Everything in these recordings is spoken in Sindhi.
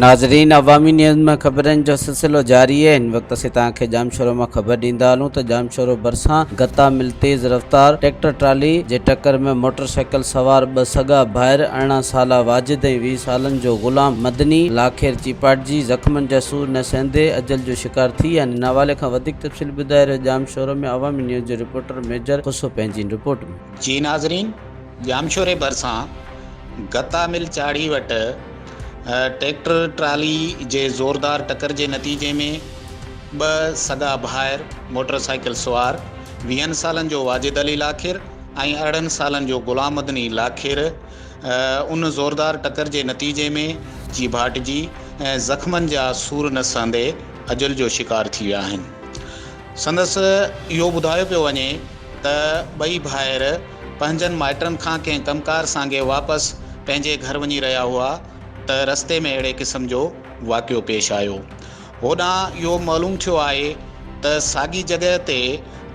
ناظرين عوامي نيوز ۾ خبرن جو سلسلو جاري آهي هن وقت اسين توهان کي ڄامشورو مان خبر ڏيندا هلون ته ڄامشورو ڀرسان گتا مل تيز رفتار ٽريڪٽر ٽرالي جي ٽڪر ۾ موٽر سائيڪل سوار ٻه سڳا ڀائر ارڙهن سالا واجد ۽ ويهه سالن جو غلام مدني لاکير چيپاٽجي زخمن جا سور نه سهندي اجل جو شڪار ٿي ويا آهن هن حوالي کان وڌيڪ تفصيل ٻڌائي رهيو ڄامشورو ۾ عوامي نيوز جي رپورٽر ميجر خوسو پنهنجي ان رپورٽ ۾. جي ناظرين ڄامشوري ڀرسان گتا مل چاڙهي وٽ ٽريڪٽر ٽرالي جي زوردار ٽڪر جي نتيجي ۾ ٻه سڳا ڀائر موٽر سائيڪل سوار ويهن سالن جو واجد علي لاکير ۽ ارڙهن سالن جو غلام مدني لاکير ان زوردار ٽڪر جي نتيجي ۾ چيڀاٽجي ۽ زخمن جا سور نه سهندي اجل جو شڪار ٿي ويا آهن سندس اهو ٻڌايو پيو وڃي ته ٻئي ڀائر پنهنجن مائٽن کان ڪنهن ڪم ڪار سانگي واپس پنهنجي گهر وڃي رهيا هئا ته رستي ۾ اهڙي قسم جو واقعو پيش آيو. هوڏانهن اهو معلوم ٿيو آهي ته ساڳي جڳهه تي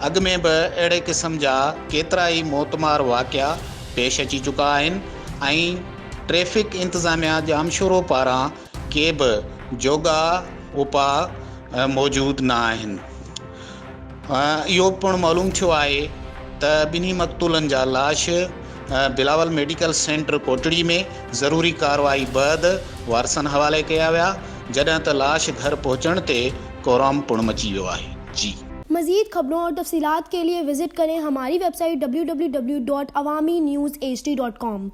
اڳ ۾ به اهڙي قسم جا ڪيترا ئي موتمار واقعا پيش اچي چڪا آهن ۽ ٽريفڪ انتظاميا ڄامشورو پاران ڪي به جوڳا اپاء موجود نه آهن. اهو پڻ معلوم ٿيو آهي ته ٻنهي مقتولن جا لاش بلاول ميڊيڪل سينٽر ڪوٽڙي ۾ ضروري ڪارروائي بعد وارثن حوالي ڪيا ويا جڏهن ته لاش گهر پهچڻ تي ڪورام پڻ مچي ويو آهي. مزيد خبرون اور تفصيلات کے ليے وزٽ ڪرين ھماري ويب سائيٽ www.awaminews hd.com.